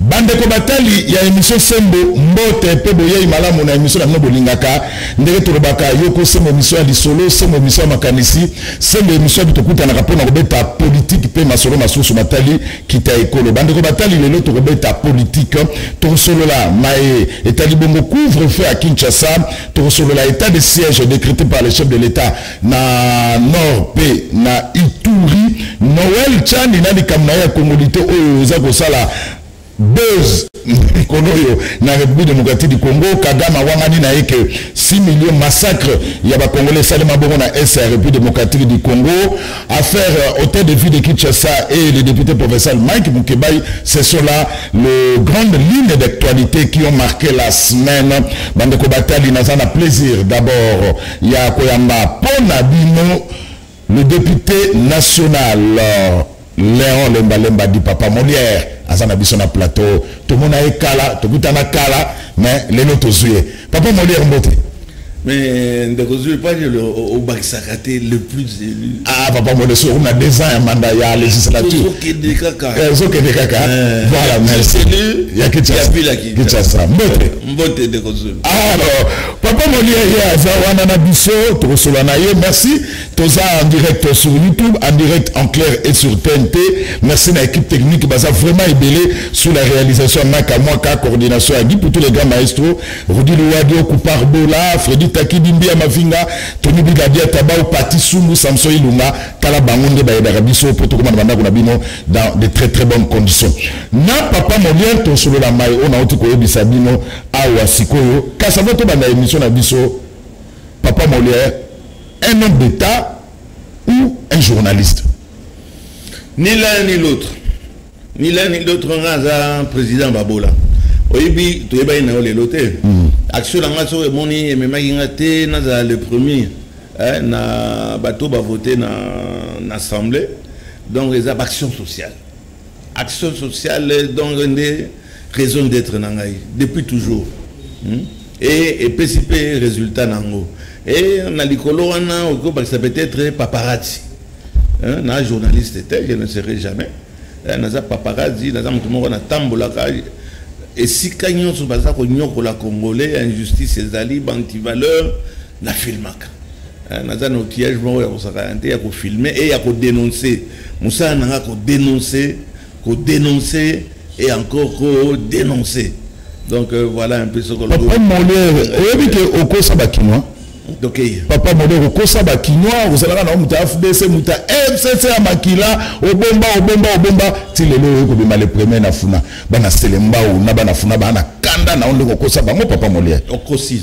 Bandeko batali ya emission sembo mbote mpe boyei malamu na emission na bino bolingaka ndenge tolobaka yoko sembo emission ya lisolo sembo emission ya makanisi sembo emission yabi tokutanaka mpo na kobeta politike mpe masolo masusu matali kita ekolo bandeko batali lelo tokobeta politike tokosolola maye etali bongo couvre feu ya kinshasa tokosolola etat de siège décrété par le chef de l'état na nord pe na ituri noel chani na likambo na ye ya kongolite oyo oza kosala buzz mikolo oyo na république démocratique du congo kagame awangani na ye ke 6 millions massacre ya bacongolais esalema bongo na est ya république démocratique du congo affaire euh, hôtel de ville de kinshasa et le député provincial mike mukebai ce sont là le grande ligne d'actualité qui ont marqué la semaine bandeko batali naza na plaisir d'abord ya koyamba mpo na bino le député national euh, Léon Lemba Lemba dit papa Molière aza na biso na plateau tomona ye kala tokutana kala mais lelo tozwi ye papa Molière mbote mais ndeko zwi epaji obakisaka te le plus élu ah papa mode soki na deux ans ya manda ya législature ozokende kaka eh, ozokende kaka eh, voilà merci ya kinshasa mbote mbote ndeko zwi alors Papa Moliere aza wana na biso tokosola na ye merci toza en direct sur YouTube en direct en clair et sur TNT merci na équipe technique baza vraiment ebele sous la réalisation ya Maka Mwaka coordination ya Guy Poutou les grands maestros Rudy Luwadio Koupar Bola Freddy Taki Bimbia Mavinga Tony Bigadia Tabao Pati Sumbu Samson Ilunga tala bango nde bayebaka biso mpo tokoma na bandako na bino dans de très très bonnes conditions na papa Moliere tosolola mai oyo nauti koyebisa bino awa sikoyo kasi avant tobanda émission na biso papa molière un homme d'état ou un journaliste ni l'un ni l'autre ni l'un ni l'autre nga aza président babola oyebi toyebaki na yo lelo te hmm. action na nga soki emoni ememaki nga te nazala le premier eh, na bato bavote na, na assemblée donc eza baaction sociale action sociale donc nde raison d'être na ngai depuis toujours hmm? e epesi mpe résultat na yango e na likolo wana okoki kobakisa peut-être paparazzi na journaliste te je ne serai jamais eh, naza paparazzi naza moto moko natambolaka esika nyonso baza konyokola congolais injustice ezali bantivaleur na filmaka eh, naza na outillage moko ya kosakana te ya kofilme e ya kodenonse mosala na nga kodenonse kodenonse et encore kodenonse donc euh, voilà un peu ce que papa moliere oyebi ke okosa bakinois tokeye papa moliere okosa bakinois ozalaka na moto ya fdc moto ya fcc ya makila obomba obomba obomba ti lelo oyo kobima le premier na funa bana selembau na bana funa bana kanda na yo nde kokosa bango papa moliere okosi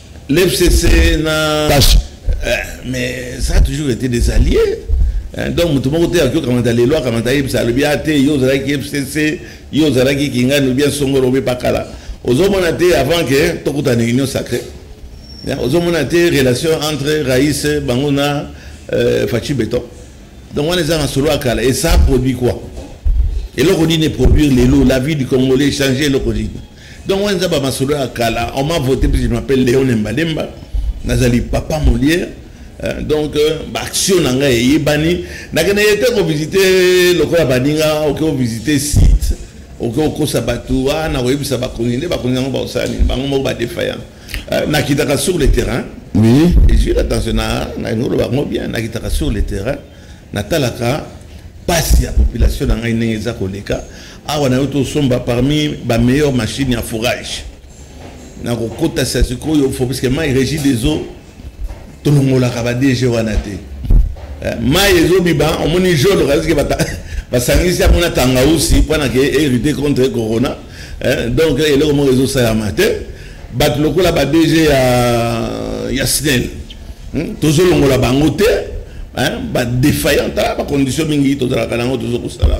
L'FCC na Kashi. Euh, mais ça a toujours été des alliés. Hein, donc moto moko te akoki okamata lelo akamata ayebisa alobi a ah, te yo ozalaki fcc yo ozalaki kingani obi asongolo obi pakala ozomona te avant ke tokutana union sacré hein, ozomona te relation entre raïs bango na euh, faci béton donc wana eza na solo ya kala et ça produit quoi eloko nini eproduire lelo la vie du congolais change eloko nini Donc on zaba masolo ya kala, on m'a voté puis je m'appelle Léon Lemba Lemba. Nazali papa Molière. Euh, donc euh, ba action na ngai eyebani nakende ye te kovisite lokola baninga oke ovisite site oke okosa bato a ah, nakoyebisa bakonzi nde bakonzi yango bakosala nini bango moko badefaya euh, nakitaka sur le terrain oui ezwi attention na nakoloba yango bien nakitaka sur le terrain natalaka mpasi ya population na ngai ndenge eza koleka awa nayo tosomba parmi ba meilleure machine ya forage na kokotisa sikoyo fo puiske mai régie des eaux tolongolaka ba dg wana te eh, mai ezobiba omoni jolo kaske basangisi yango na tangausi mpo na ke hérité contre corona eh, donc eloko moko ezosalama te bato lokola ba dg ya, ya snel hmm? tozolongola bango te badéfaillant tala bacondition mingi tozalaka nango tozokosala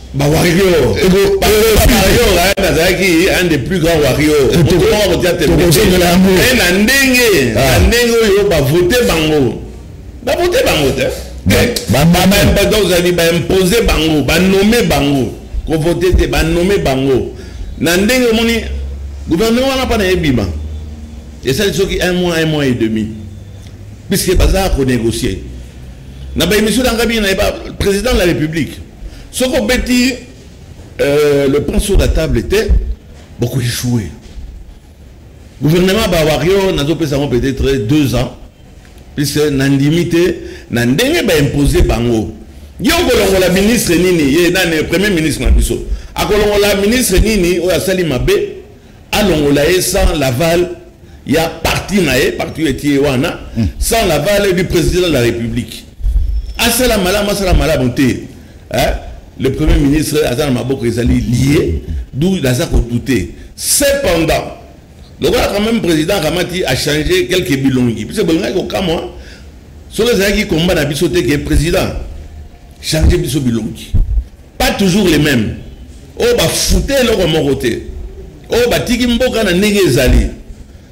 ba warrior warrior ayana azalaki un des plus grands warrior tokoka kotia tembeozongela yango eh, na ndenge na ah. ndenge oyo bavote bango bavote bango te bamamabada ozali baimpose bango banome bango kovote te banome bango na ndenge omoni gouvernement wana mpa na ebima esali soki un mois un mois et demi puisque baza konégocier na baémission na ngai mingi na ye président de la république soki obeti euh, le point sur la table te bokoechoue gouvernement bawario nazopesa yango peut-être deux ans puisque nandimi te na ndenge baimpose bango ye okolongola ministre nini ye nani premier ministre na biso akolongola ministre nini oyo asali mabe alongola ye sans l'aval ya parti na ye parti oyo etie wana hmm. sans l'aval du président de la république asala malamu asala malamu te hein? le premier ministre aza na maboko ezali lie d'où aza kodoute cependant lokola quand même président akamati achange quelque bilongi puisque bolingaki kokamwa soki ezalaki komba na biso te ke président change biso bilongi pas toujours les mêmes oyo bafute eloko moko te oyo batiki mboka na ndenge ezali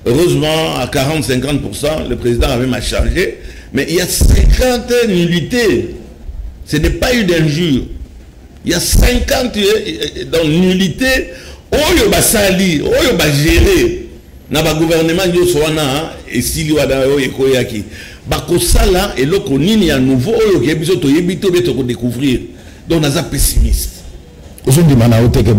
heureusement à 40 50 le président avait ma charge mais il y a 50 nullités ce n'est pas eu d'injure il y a 50 euh, euh, dans nullité oyo basali oyo bagere na bagouvernement nyonso wana esili wana oyo ekoyaki bakosala eloko nini ya nouveau oyo okeyebi biso toyebi to mpe tokodécouvrir donc naza pessimiste ozondima na yo te ke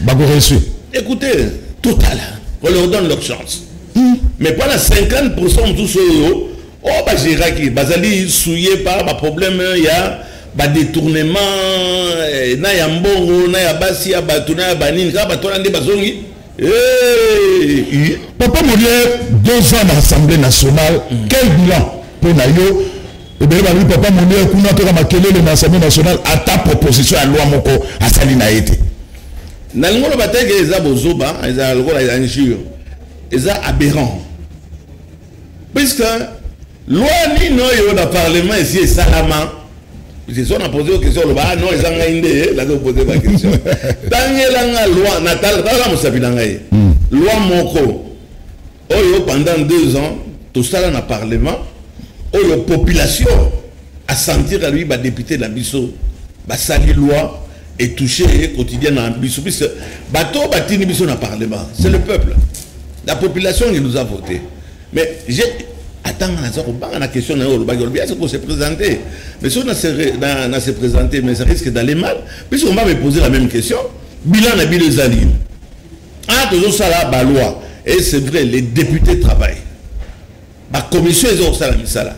bakoreussi écoutez totala on leur donne leur chance hmm. mais pas na 50 pourcent mosusu oyo oyo bagéraki bazali souye par baproblème ya badetournement eh, na ya mbongo na ya basi ya bato na ya banini kaka bato wana nde bazongi Hey, papa molière deux ans na assemblée nationale mm. quel bilan mpo na yo ebele balobi papa molière kuna toka makelele na assemblée nationale ata proposition ya loi moko asali na ye te nalingi oloba te ke eza bozoba eza lokola injure eza aberrant puisque Loi nini oyo na parlement esi esalama jesu na pose question oloba ah non eza ngai nde eh, nazo pose ba question tangela nga loi na tala mosapi na ngai hmm. loi moko oyo pendant deux ans tosala na parlement oyo population asentir alobi badepute na biso basali loi etouche ye quotidien na biso puisque bato batindi biso na parlement c'est le peuple la population qui nous a voté Mais j'ai atanga naza kobanga na question na yo olobaki olobi ase ko se présenter mais soki na se na, na se présenter mais ça risque d'aller mal puisque on va me poser la même question bilan na bino eza nini ah tozosala baloi et c'est vrai les députés travaillent bacommission eza kosala misala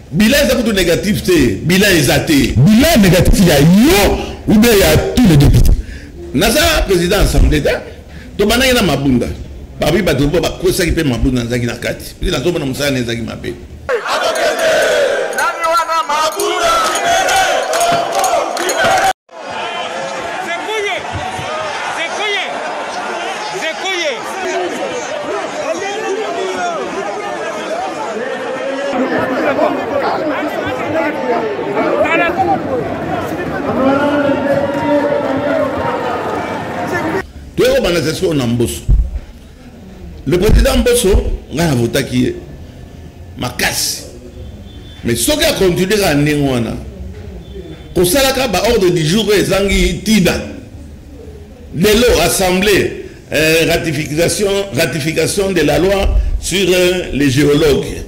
Bilan eza kutu négatif te. Bilan eza te. Bilan négatif ya yo ou bien ya tous les députés. Naza président assemblée ta. Tobandaki na mabunda. Babi bato mpo bakosaki mpe mabunda nazalaki na kati. Mpe nazomona mosala na ezalaki mabe. toyokobanda sasikoyo na mboso le président mboso ngai navotaki ye makasi mais soki akontinue kaka ndenge wana kosalaka baordre du jour oyo ezangi ntina lelo assemblée euh, ratification, ratification de la loi sur euh, les géologues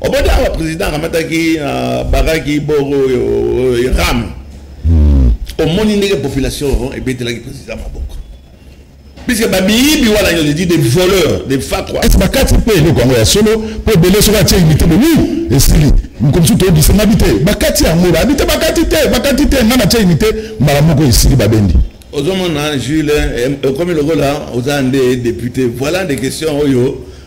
obota awa président akamataki na bakaki boro oyo ram omoni ndenge population ebetelaki président maboko puisque babiyibi wana nyonso edi des voleurs des fakwa esi bakati mpe eloko yango ya solo mpo ebele soki atie imite boni esili mokomisi toyebisa nabi te bakati yango babi te bakati te bakati te ngai natie imite mbala moko esili babendi ozomona jules ekomi lokola oza nde député voilà des questions oyo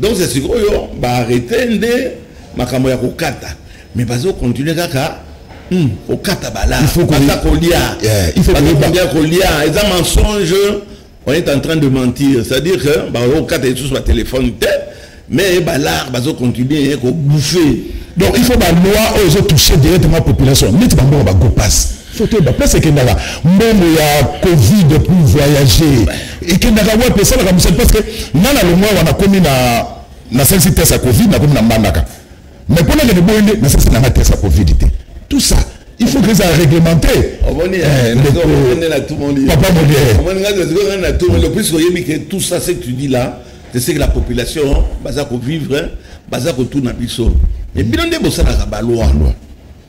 donc c'est sikoyo ba arrêter nde makambo ya kokata mais bazo continuer kaka hmm, kokata bala baza kolia baza kolia eza mensonge on est en train de mentir c'est à dire que bakoki kokata lisusu batelefone te mais balar bazo continuer kobouffe donc il faut baloi oyo ezotouche directement population neti bambongo bagopasse faut toyeba place ekendaka mbongo ya covid pour voyager ekendaka wapi esalaka mosali parce que nga na longwa wana nakomi na nasalisi test ya covid nakomi na mbandaka mais mpo nakende boye nde nasalisi nanga test ya covid te tout ça il faut que ça réglementé papa moliere puisque oyebi que tout ça ce que tu dis là c'est ce que la population baza kovivre baza kotuna biso mais bino nde bosalaka baloi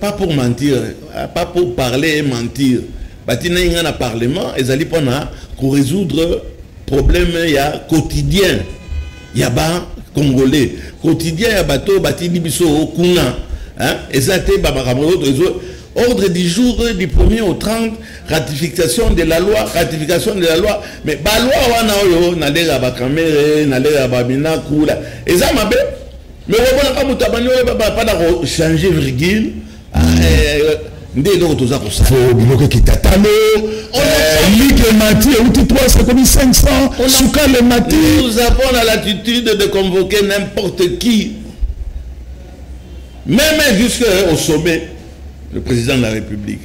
pas pour mentir euh, pas pour parler et mentir batinaki ngai na parlement ezali mpo na korésoudre problème ya quotidien ya bacongolais quotidien ya bato oyo batindi biso kuna eza te bamakambo oyo ezo ordre du jour du 1er au 30 ratification de la loi ratification de la loi mais baloi wana oyo nalela bakamere nalela baminakula eza mabe lokobolaka moto abandi oyeba bapana kochange virgule ah, mm. eh, eh, nde eloko toza kosala biloko ekitatalo lite eh, mati euti 3 ekomi 500 sukale mati nous avons la latitude de convoquer n'importe qui meme jusque au sommet le président de la république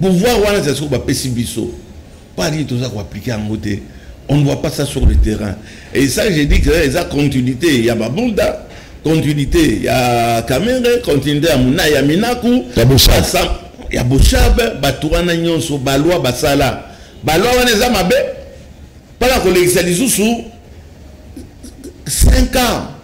pouvoir wana ezali soki bapesi biso Pas dit toza ko appliquer yango te. On ne voit pas ça sur le terrain. Et ça j'ai dit que eh, eza continuité ya babunda continuité ya Kamere, continuité ya Muna ya Minaku, ya Boshab, ya Boshab, bato wana nyonso balwa basala. Balwa wana eza mabe. Pala kolekisa lisusu 5 ans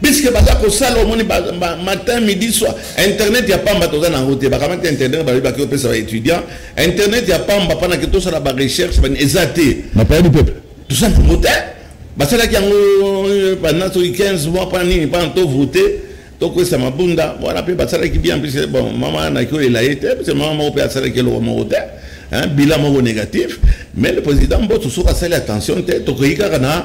puisque baza kosala omoni matin midi soir internet ya pamba toza na yango te bakamati internet balobi baki kopesa baétudiant internet ya pamba mpona ke tosala barecherche eza te napayani peuple toza na yango te basalaki yango euh, banda soki 15 mois mpona nini mpona tovote tokwesa mabunda wana mpe basalaki bien puisque bon mama naki oyela ye te puisque mama moko mpe asalaki eloko moko te bilan moko négatif mais le président mboso soki asali attention te tokoki kaka na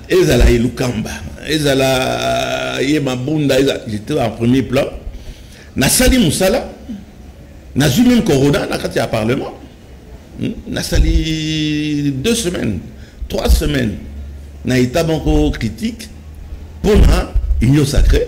ezala ye lukamba ezala ye mabunda ezala j'étais en premier plan nasali mosala nazwi meme corona na kati ya parlement hmm? nasali deux semaines trois semaines na état moko critique mpo na union sacrée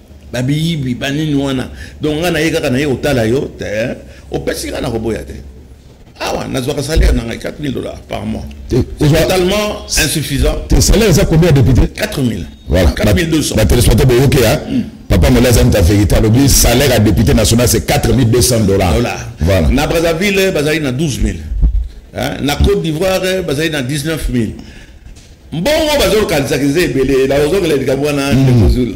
babiyibi banini wana donc ngai naye kaka naye kotala yo te eh. opesi ngai nakoboya te awa nazwaka salaire na ngai 4000 dollars par mois totalement insuffisant te salaire eza combien député 4000 voilà 4200 batelespectateur boyoki ya hmm. papa mola aza moto ya vérité alobi salaire ya député national c'est 4200 dollars voilà na brazzaville bazali na 12000 hein? na côte d'ivoire bazali na 19000 mbongo bazolukalisaki eza ebele nazozongela likambo wana hmm. ndekozula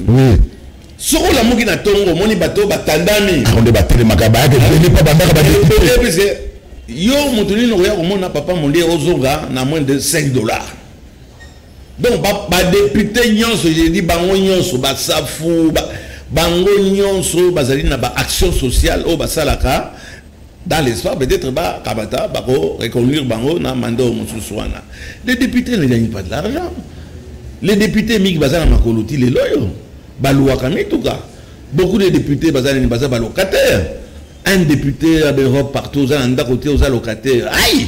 soki olamuki na ntongo omoni bato oyo batandami yango nde batelemaka bayaka ebele mpo bandaka badepuise yo moto nini okoya komona papa mondie ozonga na moins de 5 dollars donc badepute nyonso jedi bango nyonso basafu bango nyonso bazali na baaction sociale oyo basalaka dans l'espoir peut-être ba kabata ba ko reconduire bango na mandat au mususu wana les députés ne gagnent pas de l'argent les députés mingi baza na makolo ti lelo oyo baluwaka mituka beaucoup de députés baza nini baza balocataire un député ya baeurope partout oza na ndako te oza locataire ai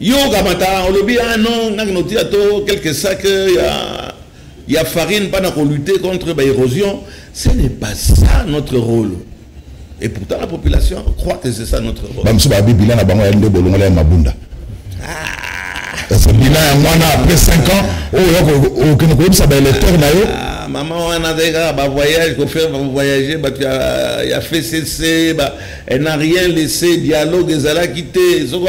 Yo okamata olobi ah non naki notia to quelques sacs euh, ya ya farine mpana ko lutter contre ba érosion ce n'est pas ça notre rôle et pourtant la population croit que c'est ça notre rôle bamosusu babi bilan na bango ya nde bolongola ya mabunda ah. bilan yango wana après 5 ans oyo okende koyebisa baélecteur na yo ah, mama wana azali kaka bavoyage kofaire bavoyage bato ya fcc Elle n'a rien laissé, dialogue ezalaki te, soko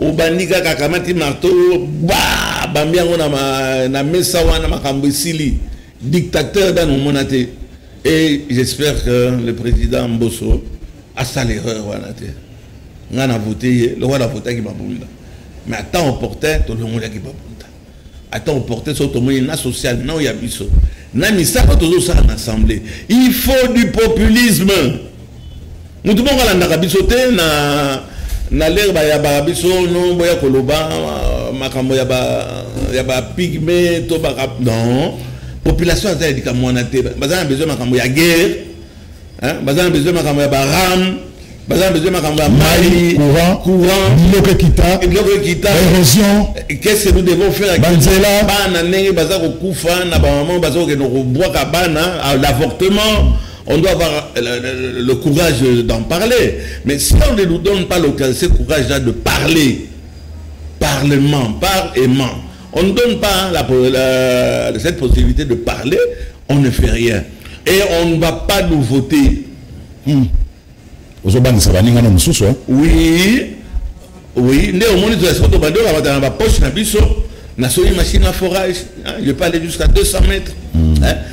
obandi kaka akamati marteau ba bambi yango na, na mesa wana makambo esili dictateur dano omona te et j'espère que le président mboso asala erreur wana te ngai na vote ye lokola na votaki babunda mais ata opportun tolongolaki babunda ata oporte soki tomoni na social nao ya biso na misala tozosala na assemblée il faut du populisme motu moko alandaka biso te na na lere bayabaka biso no boya koloba euh, makambo ya bapigme to baka non population aza ya likambo wana te baza na besoin makambo ya guerre hein baza na besoin makambo ya ba ram baza na besoin makambo ya mai courant courant biloko ekita biloko ekita érosion qu'est-ce que nous devons faire banzela bana ndenge baza kokufa na bamama baza kokende kobwaka bana l'avortement on doit avoir euh, le, le, le courage d'en parler. Mais si on ne nous donne pas l'occasion, ce courage-là de parler, parlement, par aimant, On ne donne pas la, la, cette possibilité de parler, on ne fait rien. Et on ne va pas nous voter. Hmm. ozobangisa baninga na mosusu hein? oui oui nde omoni tozalisi koto badoka batala na bapoche na biso na soki machine à forage hein? je peux aller jusqu'à 200 mètres hmm. hein?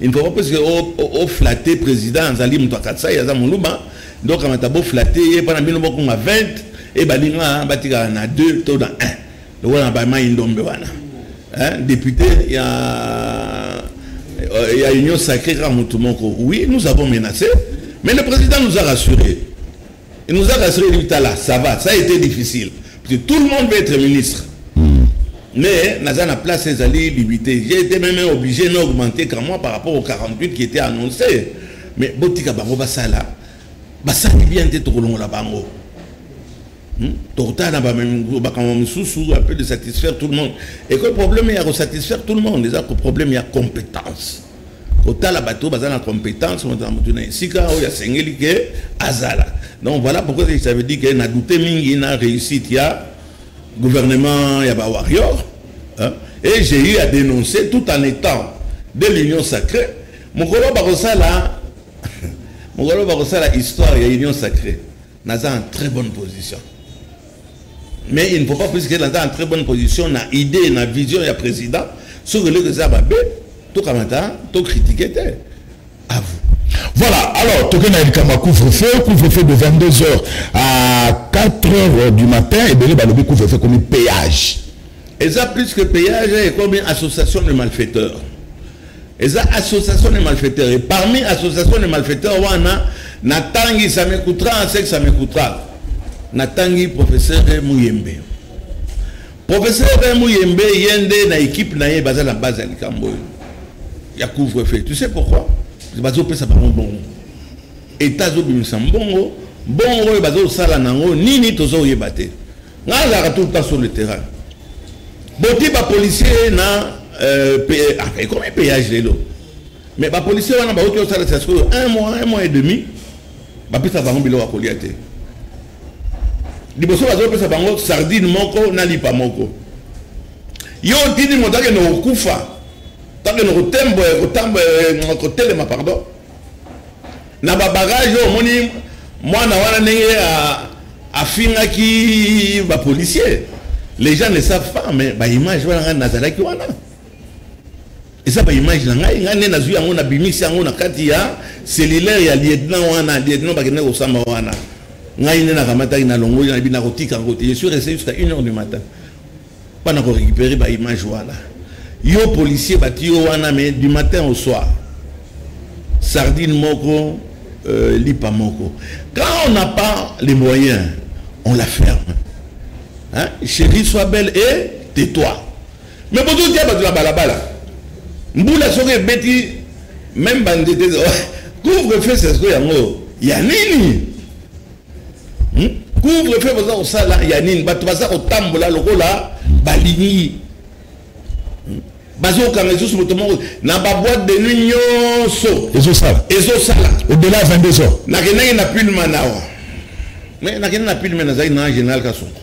il ne faut pas presque o flatter président azali moto ya katsai aza moluba nde okamata bo flatter ye mpona bino bokonga 20 e baninga batikala na 2 to na 1 lokola na bamai ndombe wana député ya euh, ya union sacrée kaka moto moko oui nous avons menacé mais le président nous a rassuré Il nous a rassuré dit tala ça va ça a été difficile parce que tout le monde veut être ministre hmm. mais naza na place ezali limité j'ai été même obligé na augmenter quand moi par rapport au 48 qui était annoncé mais botika bango basala basali bien te tokolongola bango Hmm? tokotala na makambo mosusu ape de satisfaire tout le monde eko problème ya kosatisfaire tout le monde eza ko problème ya compétence kotala bato baza na compétence moto na moto na esika oyo asengeli ke azala donc voilà pourquoi ça veut dire que na doute mingi na réussite ya gouvernement ya ba warrior hein? et j'ai eu à dénoncer tout en étant de l'union sacrée mokolo bakosala mokolo bakosala histoire ya union sacrée naza en très bonne position mais il ne faut pas plus qu'elle aza en très bonne position na idée na vision ya président soki eloko eza mabe tokamata tokritike te à vous Voilà, alors, toqué na Elikama couvre-feu, couvre-feu de 22h à 4h du matin, et bien, le couvre-feu comme péage. Et ça, plus que péage, et comme association de malfaiteurs. eza association de malfaiteurs et parmi association de malfaiteurs wana natangi ça me coûtera ce que ça me coûtera natangi professeur muyembe professeur muyembe ye nde na équipe na ye baza na base ya likambo oyo ya couvre feu tu sais pourquoi bazopesa bango bongo etat azobimisa mbongo mbongo oyo bazosala nango nini tozoyeba te Nga azalaka tout le temps sur le terrain. Boti ba policiers na euh, euh ah, et comment payage lelo. Mais ba policiers wana ba oto sala sasko un mois, un mois et demi. Ba pisa bango bilo akolia te. Liboso bazo pesa bango sardine moko na lipa moko. Yo tini motake no kufa. Tango no kotembo, kotambo, kotelema pardon. na ba barrage oyo omoni mwana wana ndenge afingaki ba policier les gens ne savent pas mais ba image wana ngai nazalaki wana eza ba image na ngai ngai nde nazwi yango nabimisi yango na kati ya cellulaire ya lieutenant wana lieutenant bakendaki kosamba wana ngai nde nakamataki nalongoli nayebi nakotika yango te je suis resté jusqu'à une heure du matin bana ko récupérer ba image wana yo policier bati yo wana mais du matin au soir sardine moko euh, lipa moko quand on n'a pas les moyens on la ferme hein? chérie sois belle et tais-toi mais bozotia bato na balabala mbula soki ebeti meme banzete couvre feu sesko yango ya nini hmm? couvre feu baza kosala ya nini bato baza kotambola lokola balingi hmm? bazokanga lisusu moto moko na baboite de nuit nyonso ezosala ezosala odela ya 22 heures nakendaki na pulman awa mais nakendaki na pulman nazalaki na général kasongo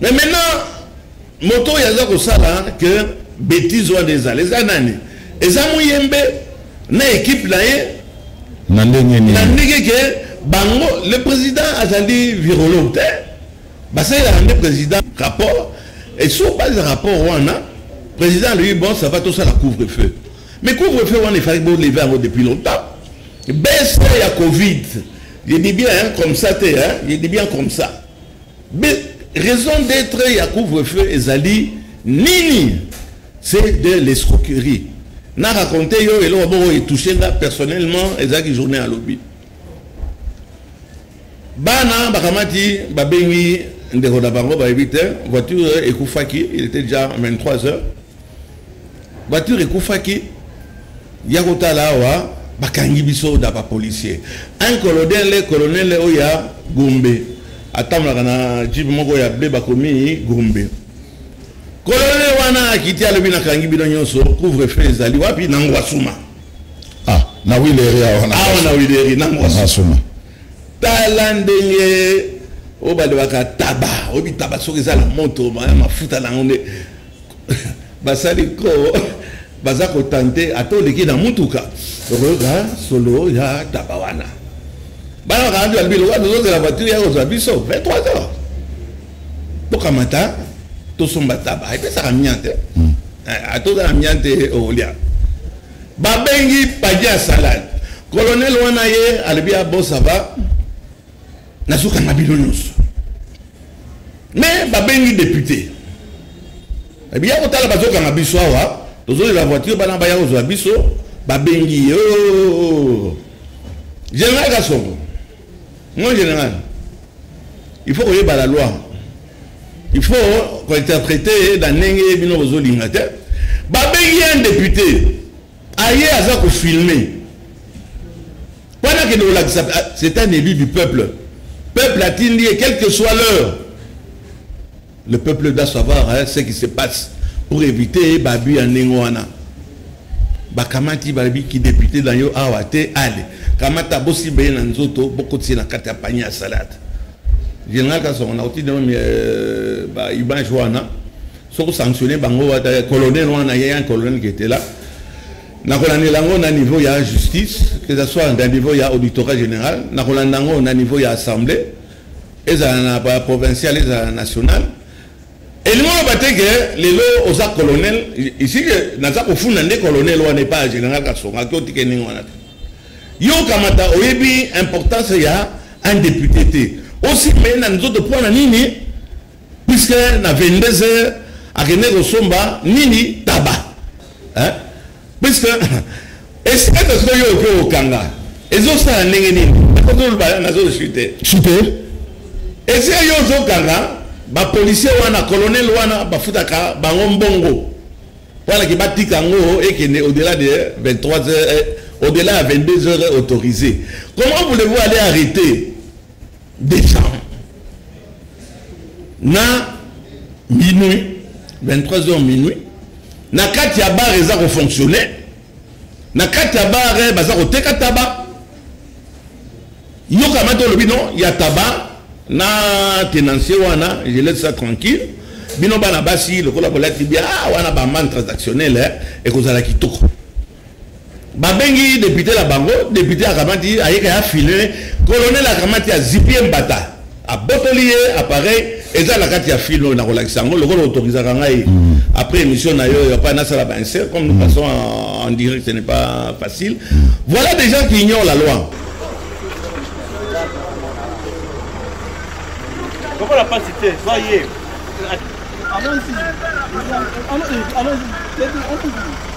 mais maintenant moto oyo aza kosala que betise wana ezala eza nani eza moyembe na ekipe na ye na ndenge nini na ndenge ke bango le président azali virologue te basalelaka nde président rapport et sur base ya rapport wana président alobi bon ça va tosala couvre feu mais couvre feu wana efalaki boleve yango depuis longtemps baisse ya covid je dis bien hein, comme ça te hein, je dis bien comme ça Mais raison d'être ya couvre-feu ezali nini c'est de l'escroquerie na raconte yo eloko boko etouche nga personnellement ezalaki journée ya lobi bana bakamati babengi ndeko na bango bayebi te voiture ekufaki il était déjà 23 heures voiture ekufaki ya kotala awa bakangi biso na bapolicier un colonel colonel oyo ya gombe atambolaka na jip moko ya ble bakomi gombe colonel wana akiti alobi nakangi bino nyonso couvre feu ezali wapi na ngwasuma ah, na wileri awa na wileri na ngwasuma tala ndenge oyo balobaka taba oyebi taba soki eza na moto mafuta na yango nde basali ko baza kotante ata oleki na motuka okoyoka solo ya taba wana bana bakanandi balobi lokola tozozela voiture ya kozwa biso 23 heures tokamata tosomba taba epesaka mia te hmm. eh, atoza na mia te okolia babengi padia salade kolonele wana ye alobi abosaba nazokanga bino nyonso me babengi depute biya kotala bazokanga biso awa tozolela voiture bana baya kozwa biso babengi ye general kasongo mon général il faut koyeba la loi il faut kointerprete na ndenge bino bozolinga te babengi ye un député aye aza kofilme wana akende kolakisa ah, c'est un élu du peuple peuple atindi ye quelle que soit l'heure le peuple doit savoir hein, ce qui se passe pour éviter babu ya ndenge wana bakamati balobi kidepute na yo awa te ale kamata bosimba ye na nzoto bokotisi na kati ya panye ya salade général kasongo nakoti nao euh, baimage wana soki osanctionne bango wata colonel wana ye un colonel ketela nakolandela yango na niveau ya justice que ça soit na niveau ya auditorat général nakolanda yango na niveau ya assemblée ezala na ba provincial ezala national elingi oloba te ke lelo oza colonel isi ke naza kofunda nde colonel wana epai ya général kasonga ke otike ndenge wana te yo okamata oyebi importance ya un député te osimbe ye na nzoto mpo na nini puisque na 22 heures akende kosomba nini taba hein? puisque esikata sikoyo yo oke okanga ezosala ndenge nini akotoloba nazozwi te sute esika yo ozokanga bapolisier wana colonel wana bafutaka bango mbongo mpona ke batika yango ekende au-delà de 23 heures eh, au-delà ya 22 heures autorisé comment voulez-vous aller arrêter décembre na minuit 23 heures minuit na kati ya bar eza kofonctionne na kati ya bar eh, baza koteka taba yokama te olobi non ya taba na tenancier wana je laisse ça tranquille bino bana basi lokola bolati bia ah, wana bamane transactionnel eh, ekozala kitoko babengi depute na bango depute akamati ayeka ya file kolonel akamati azipi ye mbata abotoli ye appareil eza na kati ya file oyo nakolakisa yango lokola otokisaka ngai mm. après émission na yo yapa nasala bainsert comme nous mm. passons en direct ce n'est pas facile mm. voilà des gens qui ignorent la loi lokola mpasi te zwa ye allons-y allons-y allons-y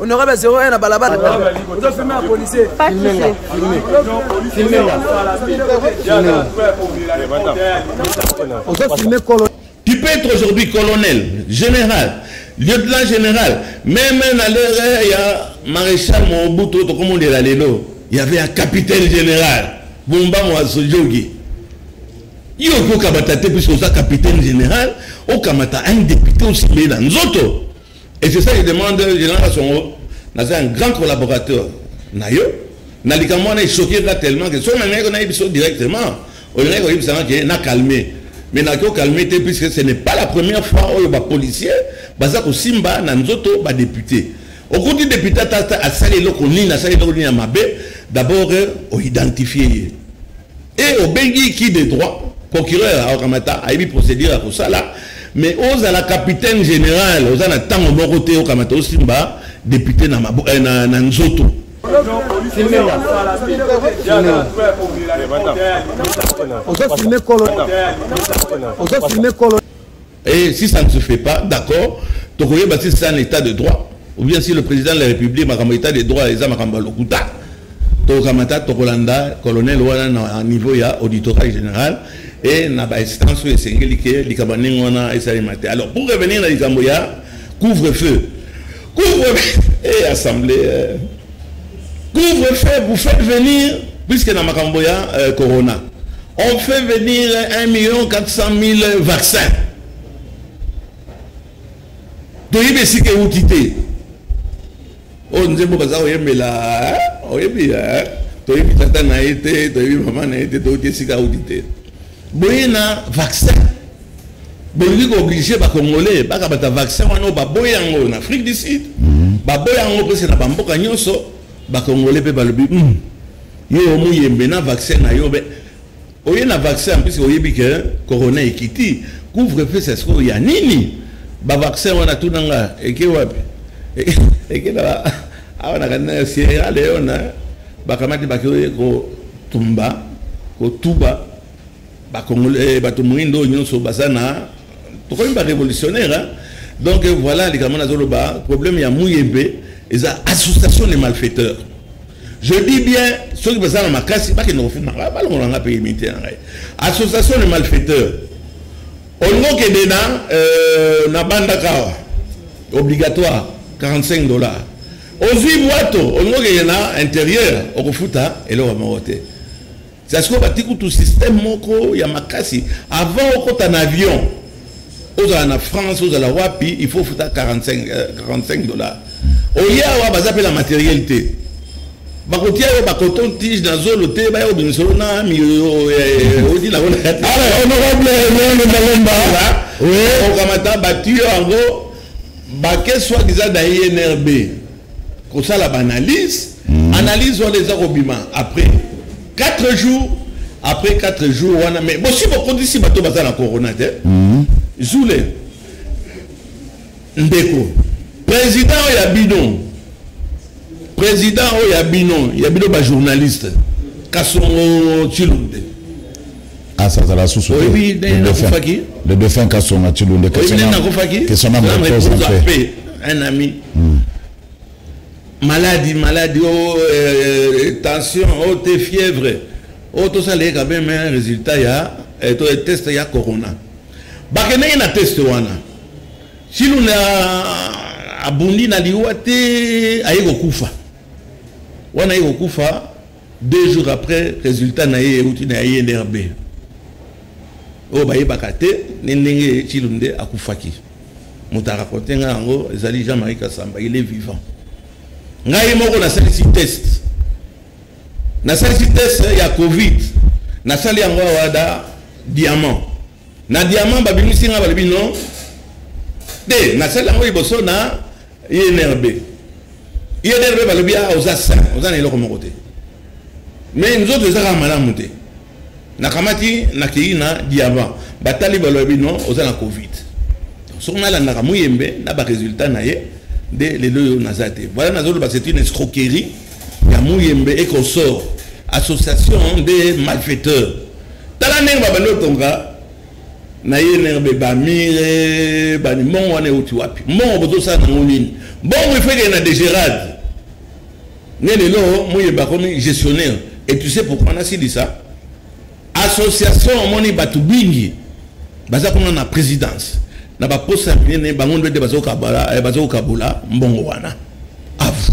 honorable ya 01 na balabala ozofilme ya policier ozofilme kolo Tu peux être aujourd'hui colonel, général, lieutenant général, même à l'heure, il y a maréchal Mobutu, tout comme on dit là, il y avait un capitaine général, Bumba Mwasojogi. Yo ko kabata te puisque oza capitaine général, o kamata un député aussi mais dans nzoto. Et c'est ça je demande, Général Songo, naza un grand collaborateur na yo, na likambo wana echoquer nga tellement que soki nalingaki nayebi biso directement, olingaki koyebisa nga ke na calmer. Mais nakoki okalme te puisque ce n'est pas la première fois oyo bapolicier baza kosimba na nzoto badepute. Okuti depute ata asali eloko nini, asali eloko nini ya mabe, d'abord oidentifie ye. Et au Bengi qui de droit, procureur à Okamata, a eu procédure à Kosala, mais aux à la capitaine générale, aux à la tango moroté au Kamata au Simba, député na, Mabo, eh, na, na Nzoto. Ozo filmer kolo. Ozo filmer kolo. Et si ça ne se fait pas, d'accord, tokoyeba si c'est un état de droit, ou bien si le président de la République, makambo état de droit, eza makambo lokuta. Tokamata tokolanda colonel wana na niveau ya auditorat général et na ba instance oyo esengeli ke likambo ndenge wana esalema te. Alors pour revenir na likambo ya couvre-feu. Couvre-feu et assemblée euh, Couvre feu, vous faites venir, puisque na makambo ya euh, corona, on fait venir 1 million 400 000 vaccins. toyebi esika euti te oyo nzembo baza koyembela oyebi toyebi tata na ye te toyebi mama na ye te toyebi esika euti te boye na vaccin bolingi kooblige bacongolais bakabata vaccin wana oyo baboyi yango na afrique du sud mhm. baboyi yango mpese na bamboka nyonso bacongolais mpe balobi hmm, yo omuyembe na vaccin na yo be oye na vaccin mpese oyebi ke corona ekiti couvre feu c'est sikoyo ya nini bavaccin wana tunanga eke wapi eke na awa na kanina ya sierra leone bakamati bakei kotumba kotuba bakongole eh, bato moindo oyo nyonso baza na tokomi barévolutionnaire donc voilà likambo nazoloba problème ya muyembe eza association de malfaiteurs je dis bien soki baza na makasi bakende kofuma ngai balongolanga mpe imite na ngai association de malfaiteurs Olingo kende na euh, na banda kawa obligatoire 45 dollars ozwi bwato olingo kende na interieur okofuta eloko moko te sasiko bati kutu système moko ya makasi avant okota na avion ozala na france ozala wapi il faut ofuta 45, euh, 45 dollars oye awa baza mpe na matériel te bakotia yo bacoton tige na zolo te baya kobimisa yo na miyoyo eh, odi nango naokamata batiyo yango bake soit disant na inrb kosala baanalyse hmm. analyse wana eza kobima après 4 jours après 4 jours wana mais bosi bokotisi bato baza na corona te hmm. zule ndeko president oyo ya bino president oyo ya bino ya bino bajournaliste kasongo tshilunde asa azala susu nakufaki le défunt kasonga tshilunde nakufaki kesona mreposa mpe un ami hmm. maladie maladie o oh, euh, euh, tension o oh, te fièvre o oh, tosala ye quand même un résultat ya euh, test ya corona bakendeki na test wana Silunde abundi na liwa te aye kokufa wana aye kokufa deux jours après résultat na ye euti na ya inrb oyo bayebaka te ne ndenge cilunde akufaki moto arakonte ngai yango ezali jean marie kasamba il est vivant ngai moko nasalisi test nasalisi test ya covid nasali yango awada diamant na diamant babimisi nga balobi non te nasali yango liboso na inrb inrb balobi a ah, oza sain oza na eloko moko te mais nzoto eza kaka malamu te nakamati nakei na diamant batali balobi non oza na covid soki nalandaka moyembe na baresultat na ye nde lelo oyo naza te voilà nazoloba c'est une escroquerie ya moyembe ekosor association nde malfaiteur tala ndenge babandi kotonga na ye nerbe bamire bani mbongo wana euti wapi mbongo bozosala nango nini mbongo ifekee na degerade nde lelo moyeba akomi gestionnaire et tu sais pourquoi nasilisa association omoni bato bingi baza kuna na présidence na baposa ya minene bango nde te bazokabola eh, mbongo wana avu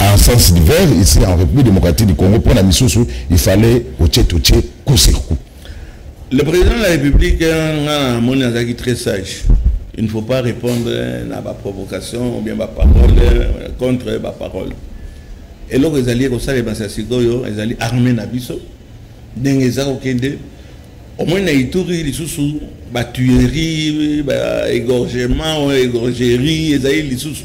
en sens divers ici en République démocratique du Congo pour la misusu il fallait au tché au tché coup sur coup le président de la République ngana moni azaki très sage il ne faut pas répondre na ba provocation ou bien ba parole euh, contre ba parole eloko ezali ekosalema sa sikoyo ezali armée na biso ndenge eza kokende omoni na ituri lisusu batuerie baégorgement oyo égorgerie ezali lisusu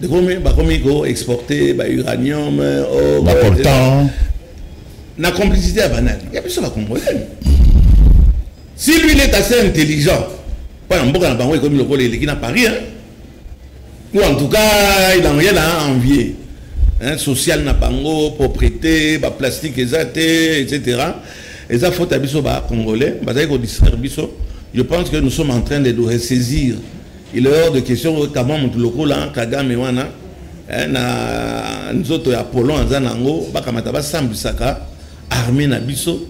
Bakomi, bakomi ko exporter ba uranium, or, ba coltan. Na complicité ya banane. Ya biso ba congolais. Si lui il est assez intelligent, pas na mboka na bango ekomi lokola eleki na Paris hein. Ou en tout cas, il en rien à envier. Hein, social na bango, propriété, ba plastique eza te, etc. Eza faute à biso ba congolais, bazali ko distraire biso. Je pense que nous sommes en train de nous ressaisir Il est hors de question que kama mutu lokola Kagame wana eh, na nzoto ya polon aza nango bakamata basambisaka armée na biso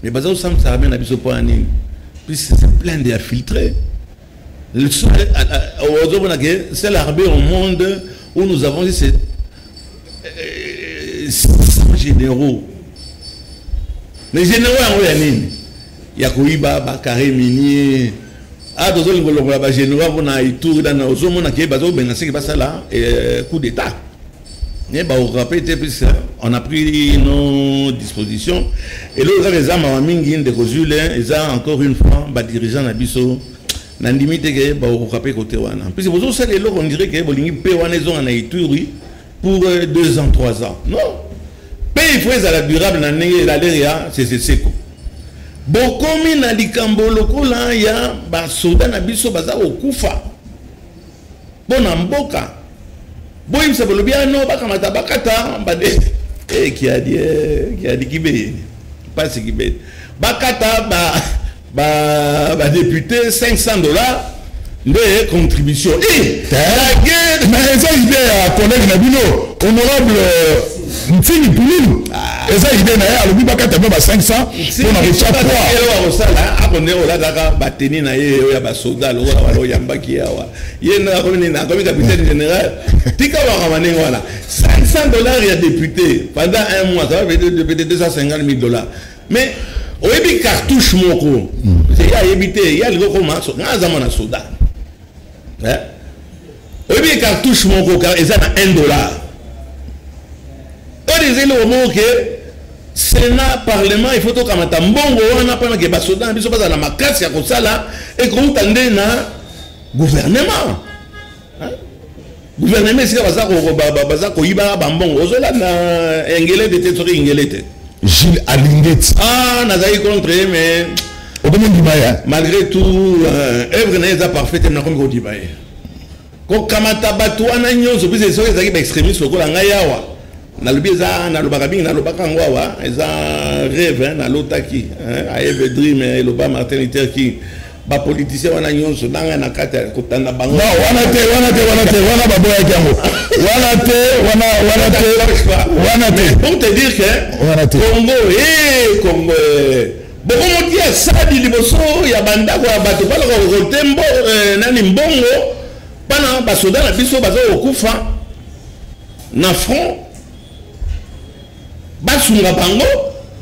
mais baza kosambisa armée na biso mpo ya nini puisque c'est plein de infiltrés ozomona ke c'est l'armée au monde où nous avons dit c'est euh, généraux mais généraux yango ya nini ya koyiba ba carré minier ah tozoki kolongola ba généraux mpona itour dana ozomona ke bazobenga seke basala eh, coup d'état ne baokape te puisque on a pris nos dispositions eloko kaka eza mawa mingi ndeko zule eza encore une fois badirigeant na biso nandimi te ke baokoka mpe kote wana puisque bozosala eloko ondire ke bolingi mpe wana ezonga na ituri pour euh, deux ans trois ans non mpe il faut ezala durable na ndenge elalere ya seseseko bokomi na likambo lokola ya basoda na biso baza kokufa mpo na mboka boyebisa bolobi ano ah, bakamata bakata bade eh, kiadi eh, kiadi kibeyeni mpasi kibeyeni bakata ba ba ba député 500 dollars nde contribution eh, mais eza idée ya collègue na bino honorable euh, mfini pululu ah. eza idée na ye alobi bakata mpe ba 500 mpo na kotya poakosala ako nde olataka bateni na ye oyo ya basoda lokola wana oyambaki yawa ye nakomi capitaine général tika wakama ndenge wana 500 dollars ya député pendant un mois ça va peut-être 250 000 dollars mais oyebi cartouche moko ye ayebi te ye alingi okoma nga aza mwana soda eh? oyebi cartouche moko eza na 1 dollar oyo ezeli omoko ke senat parlement il faut tokamata mbongo wana mpona ke basoda na biso bazala na makasi ya kosala ekouta nde na gouvernement gouvernement esika baza koyibaka bambongo ozolanda engelete te soki ingelete gilles alingeti ah nazalaki contre ye mais okomi ndima ye malgré tout euh, œuvre na ye eza parfait te nakomi kodima ye kokamata bato wana nyonso mpese soki ezalaki baextrémiste lokola ngai awa nalobi eza nalobaka mingi nalobaka yango awa eza rêve hein, nalotaki hein, aeve dream hein, eloba martin luther king bapolitisien wana nyonso nanga na kati ya kotanda bango no, wana te wana te wana te wana baboyaki yango wana te wana wana te wana te pour te dire que wana te congo e eh, congo eh. bokomotia sadi liboso ya bandako ya bato balaka kokote mbo eh, nani mbongo bana basoda na biso baza kokufa na front basunga bango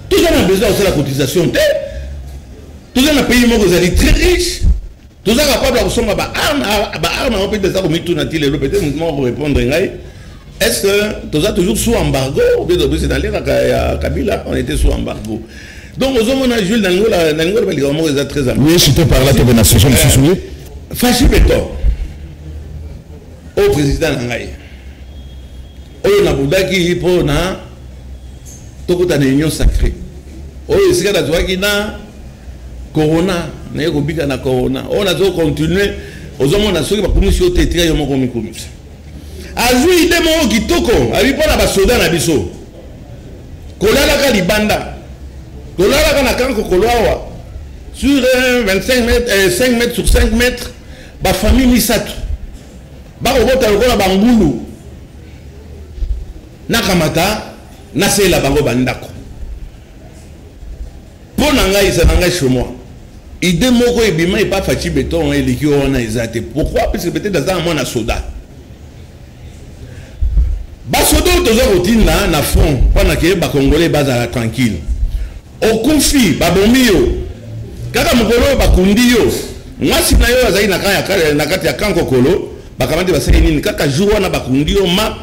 toza na besoin ya kosala cotisation te toza na pays moko ezali très riche toza capable ya kosomba baarme baarme yango mpe eza komituna ti lelo peut-être motu moko korépondre ngai est-ce que toza toujours sous embargo obe tobisi na lera ya kabila on était sous embargo donc ozomona jules nalingo loba likambo moko eza très important oui je te parle tobe na sujet mosusu oui fashi beton oyo president na ngai oyo nabudaki mpo na tokota na union sacré oyo esika nazwaki na corona naye kobika na corona oyo nazo continue ozomona soki bakumisi yo te etika yo moko omikumisa azwi ide moko kitoko abi mpo na basoda na biso kolalaka libanda tolalaka na kanko koloawa sur 25 euh, mètres, euh, 5 mètres sur 5 mètres Ba famille misato bakobota lokola bangulu nakamata nasalela bango bandako mpo na ngai eza na ngai chez moi ide moko ebima epa faci beton eleki wana eza te pourquoi parce que peut-être aza na mwana soda basoda oyo toza kotinda na front mpo na ke bakongole bazala tranquille Okufi, babomi yo. Kaka mokolo oyo bakundi yo, mwasi na yo azali na kati ya camp kokolo, bakamati basali nini? Kaka jour wana bakundi yo ma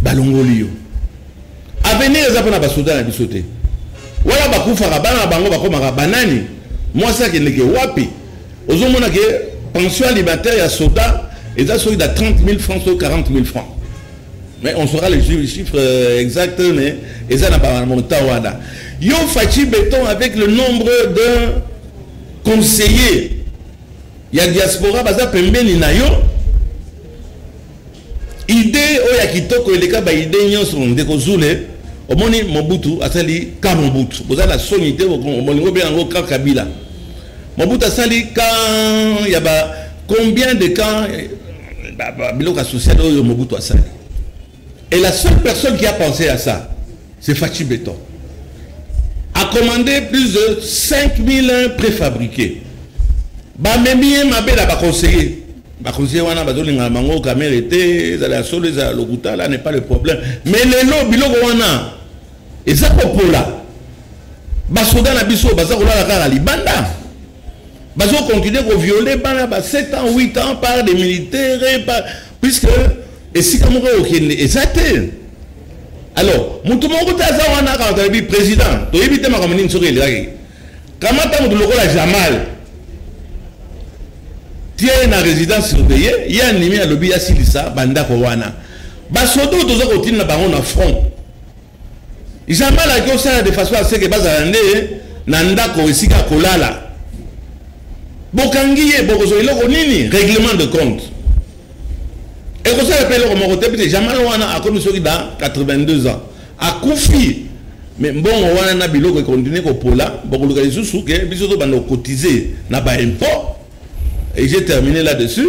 balongoli yo. Avenir eza mpo na basoda na biso te. Wana bakufaka bana na bango bakomaka banani? Mwasi akendeke wapi? Ozomona ke pension alimentaire ya soda eza soki na 30 000 francs to 40 000 francs. mais on saura les chiffres euh, exacts mais eza na ba montant wana yo Fatshi Beton avec le nombre de conseillers ya diaspora baza pembeni na yo idée oyo ya kitoko eleka baide nyonso ndeko zule omoni mobutu asali ka mobutu boza na soni te bolingo obenga yango ka kabila mobutu asali ka ya ba combien de camps biloko ya social oyo mobutu asali et la seule personne qui a pensé à ça c'est fachi beton a commandé plus de 5001 préfabriqués bamemi ye mabe na baconseiller baconseiller wana bazolingana bango kamere te ezala ya solo ezala lokuta la n'est pas le problème mais lelo biloko wana eza kopola basoda na biso baza kolala kaka libanda bazo continuer ko violer bana ba 7 ans 8 ans par des militaires par puisque esika moko okende eza te alors motu moko te aza wana kaka tolobi président toyebi te makambo nini soki elekaki kamata motu lokola jamal tie ye na résidence surveille ye andimi alobi asilisa bandako wana basoda oyo toza kotinda bango na front Jamal ayaki osala de façon aseke bazala nde na ndako esika ya kolala bokangi ye bokozwa eloko nini règlement de compte ekosala mpe eloko moko te pite jamal wana akomi soki da 82 ans akufi me mbongo wana na biloko ekontinue kopola bokoluka lisusu ke biso tobanda kokotize na baimport et j'ai terminé là dessus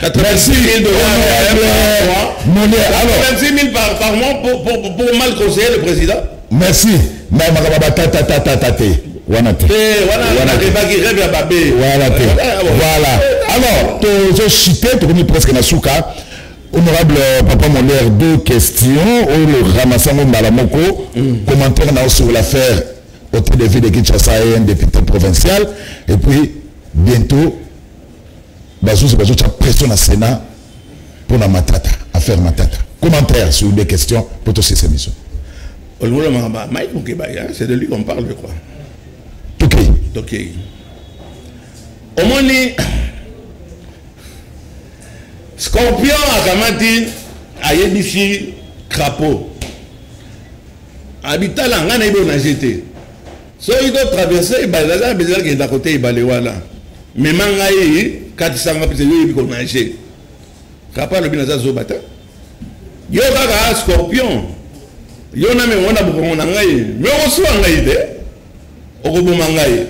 Merci, par, par mois pour, pour, pour, pour mal conseiller le président. Merci. Mais ma baba tata tata tata. Wana te. Wana wana te. Baki rêve ya babé. Wana te. Voilà. Alors, to zo chité, to komi presque na souka. Honorable euh, Papa Molaire, deux questions. Oh, le ramassango malamoko. Mm. Commentaire na sur l'affaire au de ville de Kinshasa et un député provincial. Et puis, bientôt, Bazuzi bazotia pression na Senat mpo na Matata, affaire Matata. Commentaire sur des questions mpo tosese biso. Ololo mama, Mike Mukebaya, c'est de lui qu'on parle, je crois. Tokei. Tokei. Omoni Scorpion akamati ayebisi crapaud. Abitala nga na ibo na jete. soki to traverse ebale naza na bezela kenda kote ebale wana mema ngai katisa nga pete yo oyebi konage kapa alobi naza zoba te yo kaka scorpion yo na mema na bokongo na ngai me okosuwa ngai te okoboma ngai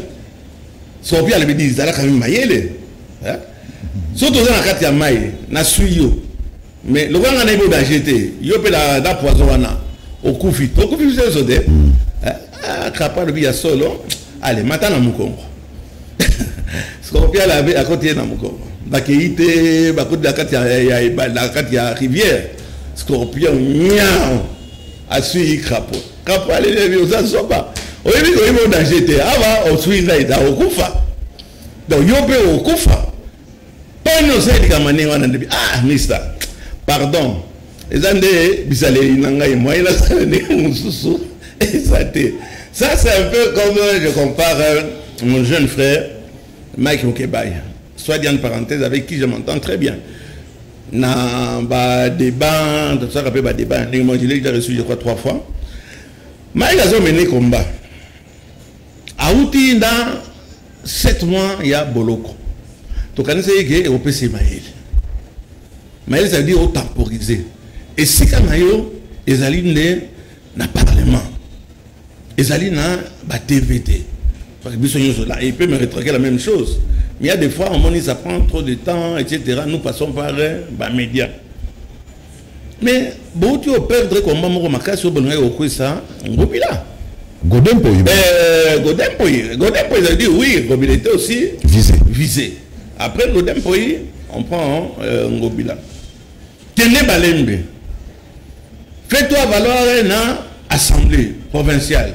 scorpion alobi di ezalaka mi mayele so toza na kati ya mai naswi yo mais lokola nga nayebi odanger te yo mpe na poison wana okufi okufi biso nyonso te hmm. eh, ah, krapa alobi ya solo ale mata na mokongo sikopiala akoti ye na mokongo bakei te bakoti na kati na kati ya rivière scorpion nyao asui krapo krapo alelebi oza zoba oyebi oyebi odanger te awa osui ngai da okufa donc yo mpe okufa poni osali likambo ndenge wana ndebi ah mister pardon eza nde bizaleli na ngai moyen nasala ndenge mosusu eza te ça c'est un peu comme euh, je compare euh, mon jeune frère mike mokebay soit dit en parenthèse avec qui je m'entends très bien na badébat tosaka mpe badébat ndenge moi je l'ai déjà reçu je crois trois fois mike azomene combat awuti na 7 mois ya boloko tokanisaki ke ekopesa ye mayele mayele ezali otemporize esika na yo ezali nde na parlement ezali na ba tv te biso nyonso là il peut me retraquer la même chose mais il y a des fois on dit ça prend trop de temps etc nous passons par euh, ba médias mais bouti o perdre combat moko makasi obolingaki kokwisa ngobila godempo euh, godempo godempo ils ont dit oui ngobila était aussi visé visé après godempo on prend euh, ngobila kende balembe fais toi valoir na assemblée provinciale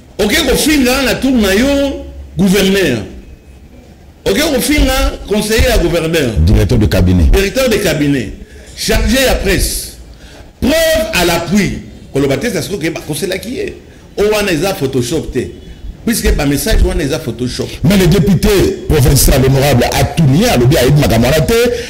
Oke kofinga na tour na yo gouverneur. Oke kofinga conseiller ya gouverneur. Directeur de cabinet. Directeur de cabinet. Chargé ya presse. Preuve à l'appui. Koloba te ça se trouve que bakoselaki ye. O wana eza Photoshop te. puisque ba message wana eza photoshop mais le député provincial honorable atunia alobi ayebi makambo wana te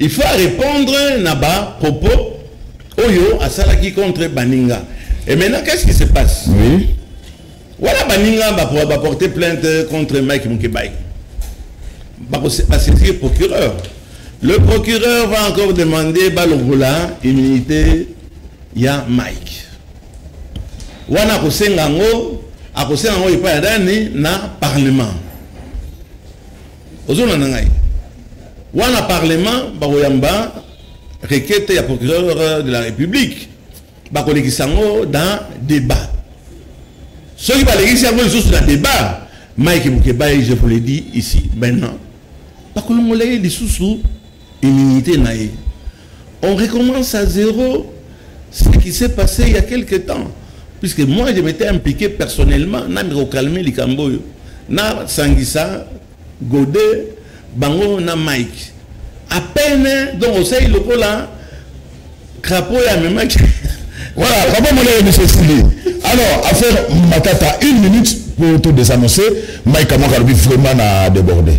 Il faut a repondre na ba propos oyo asalaki contre baninga. Et maintenant qu'est-ce qui se passe? Oui. Voilà baninga ba ba porter plainte contre Mike Mukebayi. Ba ko se saisir procureur. Le procureur va encore demander Balogola immunité ya Mike. Wana kosenga ngo akosenga ngo epai ya nani na parlement. ozolanda ngai wana parlement bakoyamba requete ya procureur de la république bakolekisa yango dans débat soki balekisi yango lisusu na débat mike mokebaye je vous le dis ici maintenant bakolongola ye lisusu Immunite na ye. On recommence à zéro ce qui s'est passé il y a quelque temps. Puisque moi, je m'étais impliqué personnellement, na miko calmer likambo yo. Na sangisa, gode, bango na Mike. À peine, donc au seuil lokola, crapaud ya memaki. Voilà, vraiment mon ami monsieur Sili. Alors, affaire Matata, une minute pour tout désannoncer. Mike Amokalobi vraiment a débordé.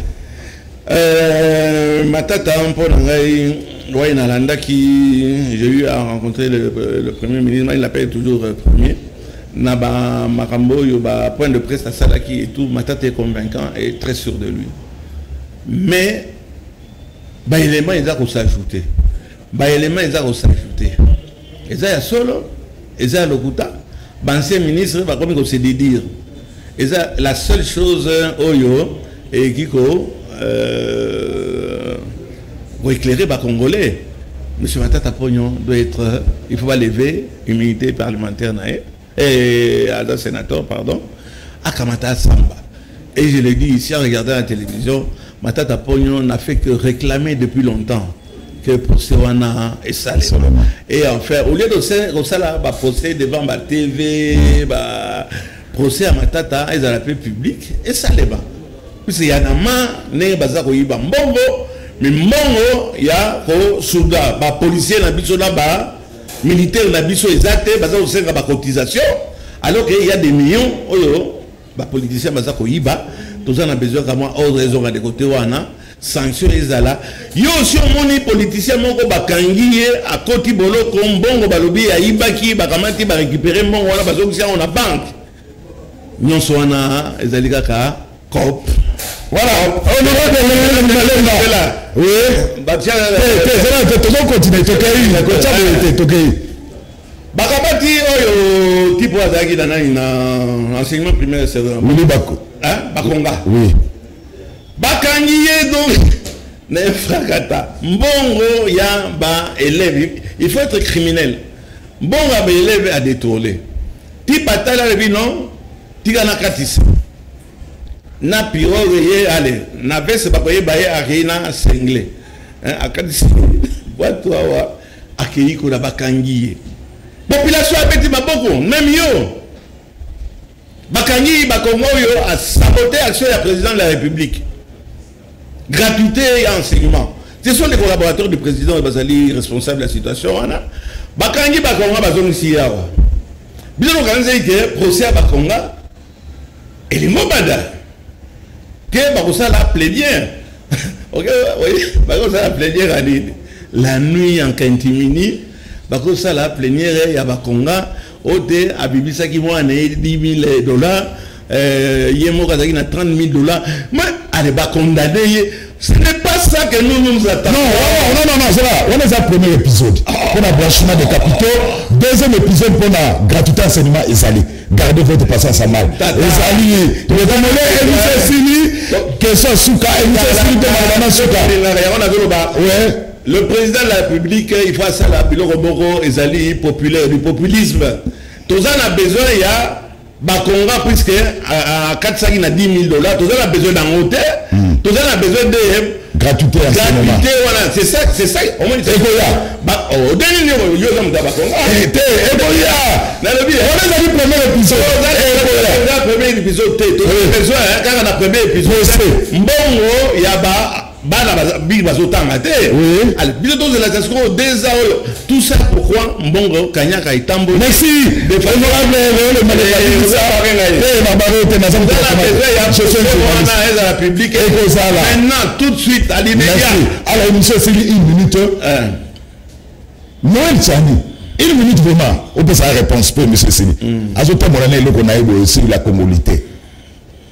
Euh, matata mpo na ngai oye nalandaki j'ai eu à rencontrer le, le premier ministre mai lapel toujours euh, premier na bamakambo oyo bapoint de presse asalaki et tout matata est convaincant et très sûr de lui mais baélément eza kosajouter baélément eza kosajouter eza ya solo eza ya lokuta baancien ministre bakomi ko se dédire eza la seule chose oyo eyeki ko euh, koéclairer bacongolais monsieur matata pognon doit être il faut balever immunité parlementaire na ye Eh, aza sénateur, pardon. Akamata Samba. Et je l'ai dit ici en regardant la télévision, Matata Pognon n'a fait que réclamer depuis longtemps que procès wana esale et en fait au lieu de kosala ba procès devant ba tv ba procès ya matata ezala mpe public esalema puise ya na ma ndenge baza koyiba mbongo mimbongo ya kosuga bapolisier na biso na ba militaire na biso eza te baza kosenga ba cotisation alors que ya des millions oyo ba politiciens baza koyiba toza na besoin ka mwa ordre ezonga de côté wana sanction ezala yo osi omoni politicien moko bakangi ye akoti boloko mbongo balobi ayibaki bakamati barécupere mbongo wana bazongisi yango na banke nyonso wana ezali kaka cop voilà tozo continue tokei kotya boye te tokei bakabaki oyo tipo azalaki na nani na enseignement primaire wili bako bakonga bakangi ye donc na efrakata mbongo ya baelève il faut être criminel Mbonga ba eleve a detourne. Ti batali alobi non tika na katisa. Na piroge ye ale na veste bakoyeba ye akei na sengle. Eh, akatisi bwatu awa akei kuna bakangi ye. Population abeti maboko meme yo. bakangi bakongo oyo asabote action ya président de la république gratuité ya enseignement ce sont des collaborateurs du président oyo bazali responsable ya situation wana bakangi bakonga bazongisi ye awa bino lokanzaki ke procès ya bakonga elingo banda ke bakosala plaidiere bakosala plaidiere ya nini la nuit en kintimini bakosala plaidiere ya bakonga ote abimisaki mwana ye 10000 dollars euh, ye moko azalaki na 30000 dollars mais ale bacondamne ye ce n'est pas ça que nous nous attendons non non non non zela wana eza premier épisode mpo na blanchiment de capitaux deuxième épisode mpo na gratuité enseignement ezali gardez votre patience à mal ezali ye tokomole émission esili question suka émission esili mpe malobana suka yango nazoloba Le président de la République, il faut asala biloko moko ezali populaire, du populisme. Toza na besoin ya bakonga puisque akatisaki na 10 000 dollars, toza na besoin d'ango te, hmm. toza na besoin de gratuité ya gratuité wana c'est ça c'est ça omoni ekoya ba oh, odeni ni oyo yo zamuta ba konga eh, te ekoya na lobi eh, on ezali premier épisode ekoya eh, na premier épisode te to besoin hein, kaka na premier épisode mbongo ya ba bana biki bazotanga te biso tozelaka sikoyo deza oyo tout ça pourquoi mbongo kanyaka etamboli merci ezala public ekozala maintenant tout de suite alimeya alors monsieur esili une minute noel tiani une minute vraiment opesa réponse mpo monsieur esili azotambola na eloko na ye boye esili la congolité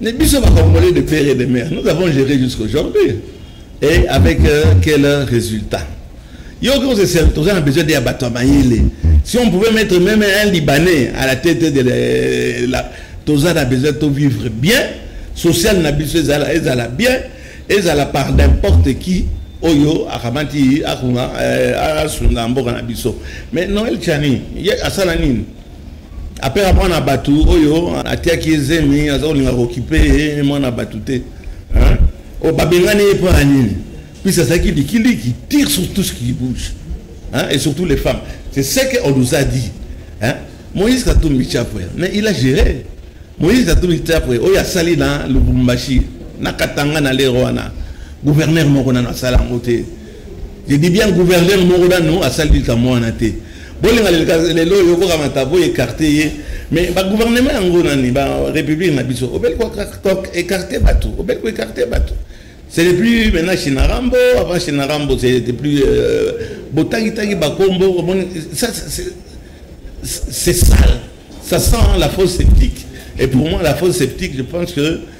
Ne biso ba Congolais de père et de mère, nous avons géré jusqu'aujourd'hui. Et avec euh, quel résultat Yo quand c'est simple, on a besoin d'un bateau mayele. Si on pouvait mettre même un Libanais à la tête de la, la Toza a besoin de vivre bien, social na biso ezala ezala bien, ezala par n'importe qui oyo akamati akuna euh, asunga mboka na biso. Mais Noël Chani, asala nini après apres mwana bato oyo atiaki ye zemi aza kolinga kokipe ye mwana bato te oyo babengani ye mpo ya nini puisque azalaki likili qui tire sur tout ce qui bouge hein, et surtout les femmes c'est ce qu'on nous a dit hein. moïse katumbi chapwe mais il a géré moïse katumbi chapwe oyo asali na lubumbashi na katanga na lero wana gouverneur moko nano asala yango te je dis bien gouverneur moko nano asali likambo wana te bolinga lelo oyo okokamata bo écarte ye mais bagouvernement yango nani barépublique na biso obeli koécarte bato obeli koécarte bato c'était plus maintenant chinarambo avant chinarambo c'était plus euh, botangitangi bakombo ça c'est sale ça sent la fausse sceptique et pour moi la fausse sceptique je pense que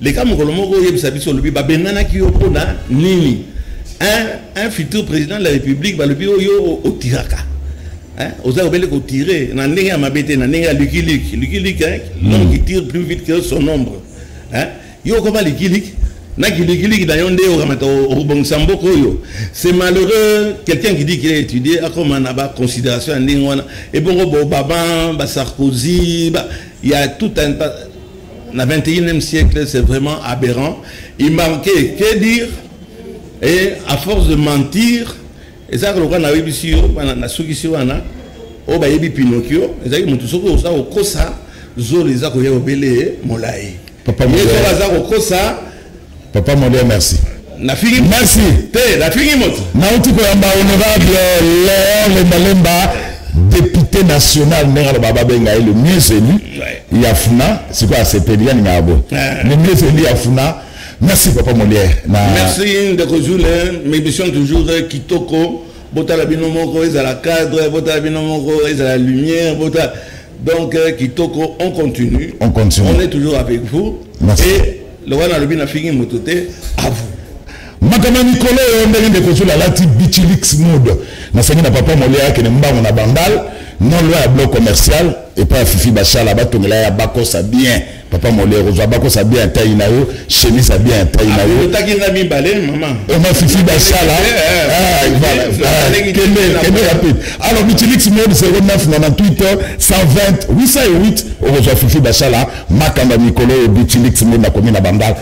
leka mokolo moko oyebisa biso olobi babenganaki yo mpo na nini un, un futur président de la république balobi oyo otiraka oza obele kotire na ndenge ya mabe te na ndenge ya likiliki likiliki l'homme qui tire plus vite que son ombre yo okoma likiliki na kilikiliki na yo nde okamata obongisa mboka oyo c'est malheureux quelqu'un qui dit qu'il a étudié akoma na baconsidération ya ndenge wana ebongo bobaba basarkozy ya tout un Na 21e siècle, c'est vraiment aberrant. Il manquait que dire et à force de mentir, et ça, le na webi si yo, na suki si wana, o ba yebi Pinocchio, et ça, il monte soko ça au kosa, zolo les ako yebele molai. Papa, mais ça, ça au kosa. Papa Molia, merci. Nafingi merci. Te, nafingi moto. Nauti koyamba honorable Léon Lemba Lemba, député national ndenge aloba babenga ye le mieux élu ya funa sikoyo asepeli yaninga ya boye le mieux élu ya funa merci papa molière na... merci ndeko jule m'émission toujours kitoko botala bino moko ezala cadre botala bino moko ezala lumière botala Donc, euh, Kitoko, on continue. On continue. On est toujours avec vous. Merci. Et le Wana Lobi n'a fini mototé à vous. makama mikolo oyo ndenge ndeko zula alati bichilix mode nasengi na papa molia akende mbango na bandal non loi ya bloc commercial epai ya fifi bashala batongela ya bakosa bien papa molero ozwa bakosa bien ntai na yo chemise ya bien ntai na yo otaki nga mibale mama oma fifi basala kende rapide alors bitilix mode 09 na na twitter 120 808 okozwa fifi basala makambo ya mikolo oyo bitilix mode nakomi na bandal